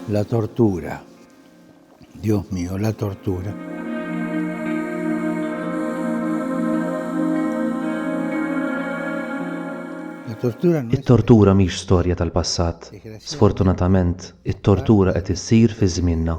La tortura. Dios mío, la tortura. It-tortura mhix storja tal-passat. Sfortunatament, it-tortura qed issir fi żmienna.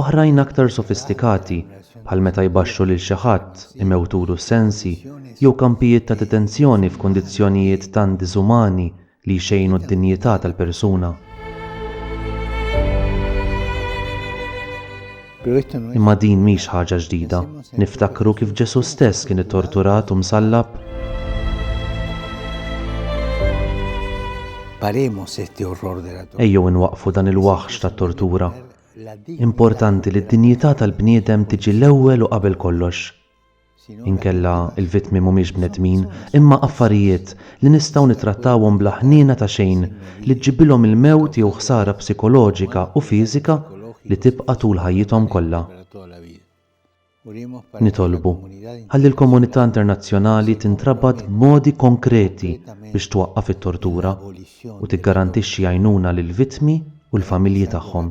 Oħrajn aktar sofistikati, bħal meta jbaxxru lil xi ħadd, imewtulu s-sensi, jew kampijiet ta' detenzjoni f'kundizzjonijiet tant diżumani li jxejnu d-dinjità tal-persuna. Imma din mhix ħaġa ġdida. Niftakru kif Ġesù stess kien ittorturat u msallab? Ejjew inwaqqfu dan il-waħx tat-tortura, Importanti li d-dinjità tal-bniedem tiġi l-ewwel u qabel kollox. Inkella l-vittmi mhumiex bnedmin, imma affarijiet li nistgħu nittrattawhom bla ħniena ta' xejn li ġġibilhom il-mewt jew ħsara psikoloġika u fiżika li tibqa' tul ħajjithom kollha. Nitolbu ħalli l-komunità internazzjonali tintrabat b'modi konkreti biex twaqqaf it-tortura u tiggarantixxi għajnuna lill-vittmi u l-familji tagħhom.